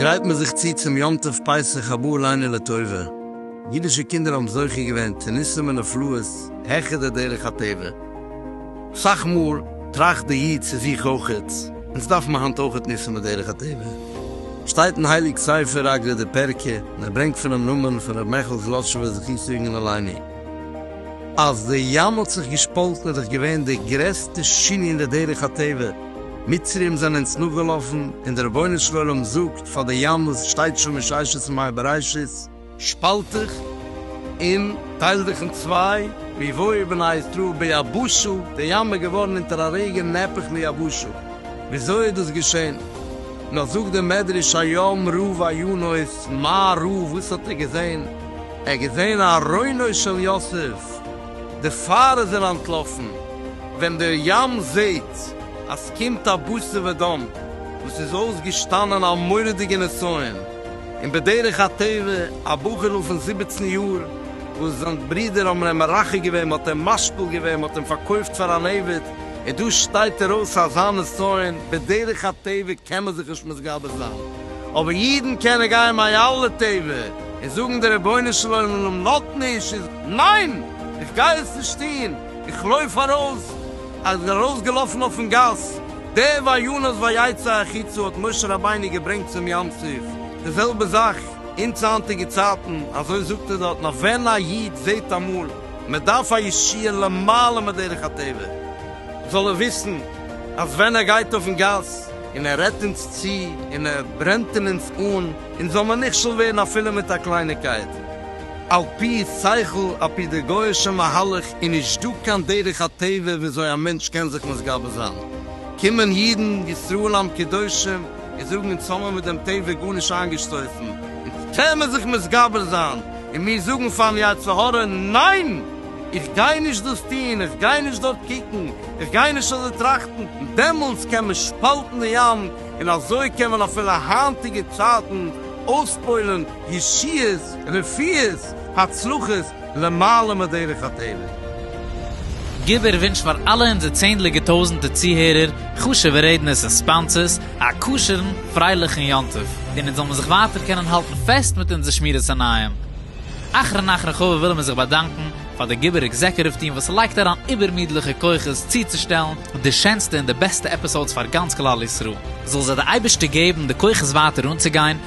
גרייט מען זיך צו צום יום טוב פסח הבא עלינו לטובה, אידישע קינדער האבן זוכה געווען צו ניסים ונפלאות העכער די דרך הטבע, סאך מאל טראכט די איד צו זיך אויכעט, אונז דארף מען היינט אויכעט ניסן בדרך הטבע? שטייט אין הייליג ספר אגרת די פרקי, און ער ברענגט פונעם נאמן פון ר' מעכל זלאטשובער זכותו יגן עלינו, אז די ים האט זיך געשפאלטן איז דאך געווען די גרעסטע שינוי אין די דרך הטבע, מצרים זענען אונז נאכגעלאפן, און די רבונו של עולם זאגט פאר די ים וואס שטייט שוין מששת ימי בראשית, שפאלט דיך און טייל דיך אין צוויי, ווי וואויל בני ישראל ביבשה, די ים איז געווארן אונטער א רגע נהפך ליבשה, וויאזוי איז דאס געשען? נאר זאגט דער מדרש היום ראה ויונוס, מה ראה וואס האט ער געזען? ער האט געזען ארונו של יוסף, דערפאר איז ער אנטלאפן, ווען דער ים זעט אז ס'קומט א בשר ודם וואס איז אויסגעשטאנען א מורא'דיגע נסיון, און בדרך הטבע א בחור'ל פון זיבעצן יאר וואס זיין ברודער האבן אים מרחק געווען, מ'האט אים משפיל געווען, מ'האט אים פארקויפט פאר אן עבד, און דא שטייט ער אויס אזא נסיון, בדרך הטבע קען מען זיך נישט מתגבר זיין, אבער אידן קענען גיין מיין אלע טבע און זאגן דער רבונו של עולםם נאט נישט איז ניין! איך גיי עס נישט טון! איך לויף ארויס! ער איז ארויסגעלאפן אויפן גאס, דער וינוס ויצא החוצה האט משה רבינו געברענגט צום ים סוף, די זעלבע זאך אונז היינטיגע צייטן, אזוי זאגט ער דארט נאך ווען א איד זעט אמאל מען דארף א ישועה למעלה מדרך הטבע, זאל ער וויסן אז ווען ער גייט אויפן גאס און ער רעדט אונז צו און ער ברענט אין אונז אן, אונז זאל מיר נכשל ווערן אפילו מיט א קלייניקייט. על פי שכל, על פי די גוי'אישע מהלך איז נישט דא קיין דרך הטבע וויאזוי א מענטש קען זיך מתגבר זיין. קומען אידן, ישראל עם קדושים, און זאגן אונז האמער מיט דעם טבע גארנישט איינגעשטויסן, אונז קען מען זיך מתגבר זיין, און מיר זאגן פארן יצר הרע, ניין! איך גיי נישט דאס טון, איך גיי נישט דארט קוקן, איך גיי נישט אזוי טראכטן. דעמאלטס קען מען שפאלטן די ים, און אזוי קען מען אפילו היינטיגע צייטן אויספוילן ישועות, רפואות, הצלחות, למעלה מדרך הטבע. גיב ער ווינטש פאר אלע אונזער צענדליגע טויזענטע צוהערער, חשובע רעדנערס און ספאנסערס, א כשר'ן, פרייליכן יום טוב, און אונז זאל מיר זיך ווייטער קענען האלטן פעסט מיט אונזער שמירת עיניים. אחרון אחרון חביב ווילן מיר זיך באדאנקן פאר די גיבור עקזעקוטיוו טיעם וואס לייגט אריין איבערמידליכע כוחות צוצושטעלן די שענסטע און די בעסטע עפיסאודס פאר גאנץ כלל ישראל. זאל זיי די אייבערשטער געבן די כוחות ווייטער אנצוגיין